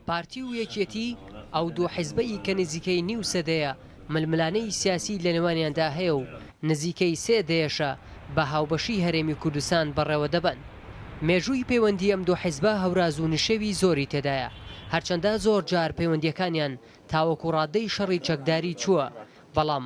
پارتی و یەکێتی، ئەو دوو حزبە ی کە نزیکەی نیو سەدەیە ململانێی سیاسی لە نێوانیاندا هەیە و نزیکەی سێ دەیەشە بە هاوبەشی هەرێمی کوردستان بەڕێوە دەبەن. مێژووی پەیوەندی ئەم دوو حزبە هەوراز و نشێوی زۆری تێدایە، هەرچەندە زۆر جار پەیوەندیەکانیان تاوەکو ڕاددەی شەڕی چەکداری چووە، بەڵام،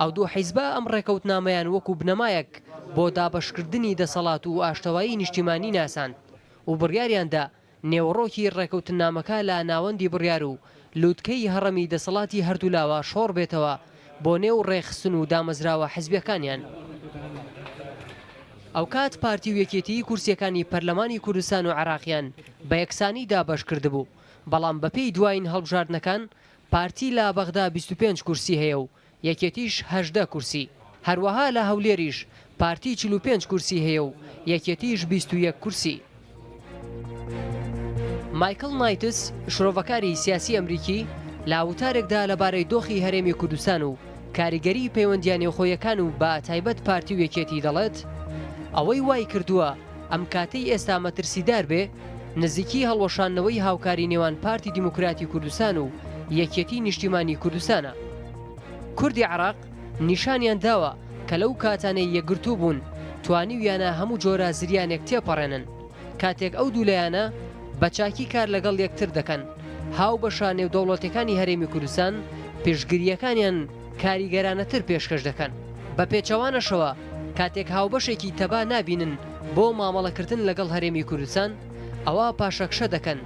ئەو دوو حیزبە ئەم ڕێکەوتنامەیان وەکو بنەمایەک بۆ دابەشکردنی دەسەڵات و ئاشتەوایی نیشتیمانی ناساند و بڕیاریان دا نێوەڕۆکی ڕێکەوتننامەکە لە ناوەندی بڕیار و لووتکەی هەڕەمی دەسەڵاتی هەردوولاوە شۆڕ بێتەوە بۆ نێو ڕێکخستن و دامەزراوە حیزبیەکانیان. ئەوکات پارتی و یەکێتیی کورسیەکانی پەرلەمانی کوردستان و عێراقیان بە یەکسانی دابەش کردبوو، بەڵام بەپێی دوایین هەڵبژاردنەکان پارتی لە بەغدا بیست و پێنج کورسی هەیە و یەکێتیش هەژدە کورسی، هەروەها لە هەولێریش پارتی چل و پێنج کورسی هەیە و یەکێتیش بیست و یەک کورسی. مایکڵ نایتس، شرۆڤەکاری سیاسی ئەمریکی لە وتارێکدا لەبارەی دۆخی هەرێمی کوردستان و کاریگەریی پەیوەندییە نێوخۆیەکان و بە تایبەت پارتی و یەکێتی دەڵێت، ئەوەی وایکردووە، ئەم کاتەی ئێستا مەترسیدار بێ، نزیکی هەڵوەشاندنەوەی هاوکاری نێوان پارتی دیموکراتی کوردستان و یەکێتی نیشتیمانی کوردستانە. کوردی عێراق نیشانیان داوە کە لەو کاتانەی یەکگرتوو بوون توانیویانە هەموو جۆرە زریانێک تێپەڕێنن، کاتێک ئەو دوو لایەنە بە چاکی کار لەگەڵ یەکتر دەکەن، هاوبەشە نێودەوڵەتیەکانی هەرێمی کوردستان پشتگرییەکانیان کاریگەرانەتر پێشکەش دەکەن. بە پێچەوانەشەوە کاتێک هاوبەشێکی تەبا نابینن بۆ مامەڵەکردن لەگەڵ هەرێمی کوردستان، ئەوا پاشەکشە دەکەن.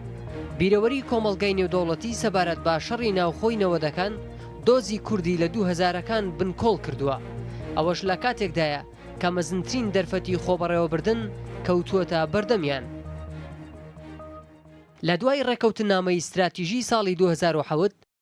بیرەوەری کۆمەڵگای نێودەوڵەتی سەبارەت بە شەڕی ناوخۆی نەوەدەکان دۆزی کوردی لە دوو هەزارەکان بنکۆڵ کردووە. ئەوەش لە کاتێکدایە کە مەزنترین دەرفەتی خۆبەڕێوەبردن کەوتووەتە بەردەمیان. لە دوای ڕێککەوتننامەی ستراتیژی ساڵی دوو هەزار و حەوت،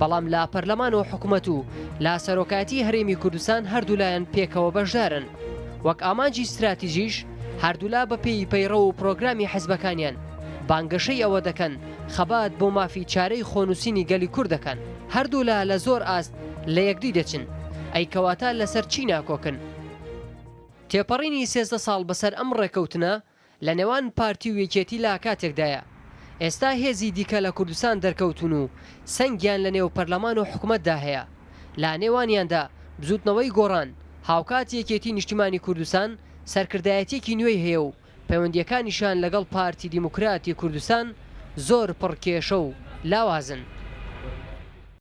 بەڵام لە پەرلەمان و حکومەت و لە سەرۆکایەتی هەرێمی کوردستان هەردوولایەن پێکەوە بەشدارن وەک ئامانجی ستراتیژیش هەردوولا بە پێی پەیڕە و پرۆگرامی حزبەکانیان بانگەشەی ئەوە دەکەن خەبات بۆ مافی چارەی خۆنووسینی گەلی کورد دەکەن هەردوولا لە زۆر ئاست لە یەکدی دەچن ئەی کەواتە لەسەر چی ناکۆکن؟ تێپەڕینی سێزدە ساڵ بەسەر ئەم ڕێکەوتنە لە نێوان پارتی و یەکێتی لا کاتێکدایە ئێستا هێزی دیکە لە کوردستان دەرکەوتوون و سەنگیان لە نێو پەرلەمان و حکومەتدا هەیە لە نێوانیاندا بزوتنەوەی گۆڕان هاوکات یەکێتی نیشتیمانی کوردستان سەرکردایەتیەکی نوێی هەیە و پەیوەندیەکانیشیان لەگەڵ پارتی دیموکراتی کوردستان زۆر پڕ کێشە و لاوازن.